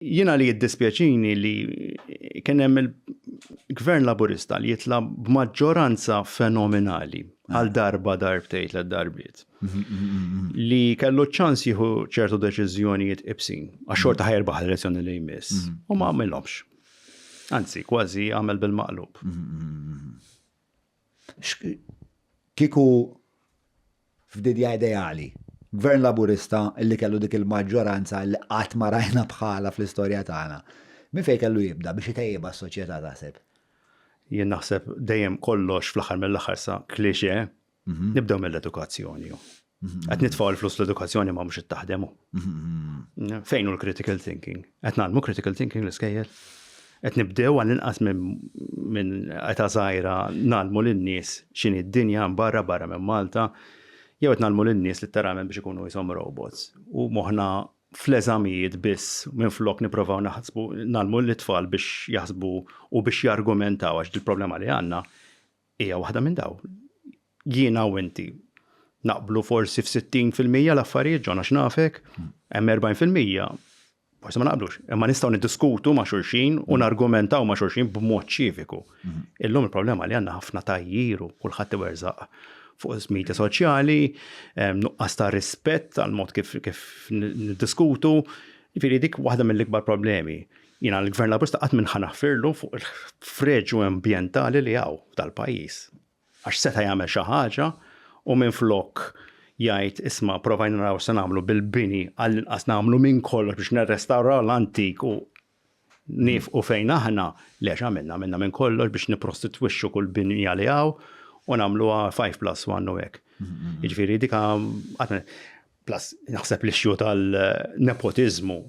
Jiena li jiddispjaċini li kien hemm il-Gvern Laburista li jitla' b'maġġoranza fenomenali għal darba darbtejn tliet darbiet. Li kellu ċans jieħu ċertu deċiżjonijiet ibsin, għax xorta ħajrbaħ l-elezzjoni li jmiss, u ma għamilhomx. Anzi, kważi għamel bil-maqlub. Kieku f'dinja ideali, Gvern Laburista li kellu dik il-maġġoranza li qatt ma rajna bħalha fl-istorja tagħna, minn fejn kellu jibda biex itejjibha s-soċjetà taħseb? Jien naħseb dejjem kollox fl-aħħar mill-aħħar sa cliché, nibdew mill-edukazzjoni. Qed nitfgħu l-flus l-edukazzjoni ma mhux qed taħdemu. Fejn hu l-critical thinking? Qed nagħmlu critical thinking l-iskejjel? Qed nibdew għal inqas minn qeta żgħira nagħmlu lin-nies x'inhi d-dinja barra barra minn Malta jew qed nagħmlu lin-nies litteralment biex ikunu jisom robots. U moħħna fl-eżamijiet biss minn flok nipprovaw naħsbu nagħmlu l-itfal biex jaħsbu u biex jargumentaw għax il-problema li għandna Hija waħda minn dawn. Jiena u inti naqblu forsi f'60 fil-mija l-affarijiet ġona x'nafek, hemm 40 fil-mija forsi ma naqblux, imma nistgħu niddiskutu ma' xulxin u mm. nargumentaw ma' xulxin b'mod ċiviku. Mm. Illum il-problema li għandna ħafna tajjiru kulħadd iwerżaq fuq is-media soċjali, nuqqas ta' rispett għal mod kif niddiskutu, jiġifieri dik waħda mill-ikbar problemi. Jiena l-Gvern Laburista qatt m'inħa naħfirlu fuq il-ħfreġu ambjentali li hawn f'dal-pajjiż. Għax seta' jagħmel xi ħaġa u minflok jgħid isma' provajna naraw x'se nagħmlu bil-bini għallinqas nagħmlu minn kollox biex nirrestawraw l-antik u niefqu fejn aħna, le x'għamilna? Għamilna minn kollox biex nipprostitwixxu kull binja li hawn u nagħmluha five plus one u hekk. Jiġifieri dik Plus, naħseb li xju tal-nepotiżmu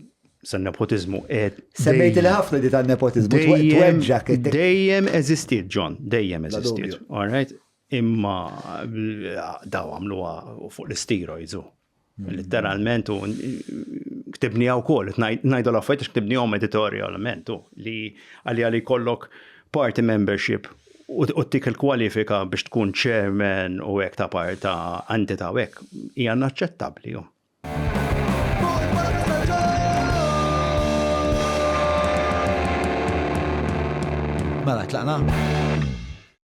San nepotiżmu qed. Semmejt li ħafna di tan-nepotiżmu tweġġak. Dejjem eżistiet, John, dejjem eżistiet. All right? Imma daw għamluha fuq l-steroids u mm. literalment u ktibni għaw kol, najdu l-affajt ktibni għom editorialment u li għalli għalli kollok party membership u tik il-kwalifika biex tkun chairman u hekk ta' parta entità u hekk hija naċċettabbli. Mela tlaqna?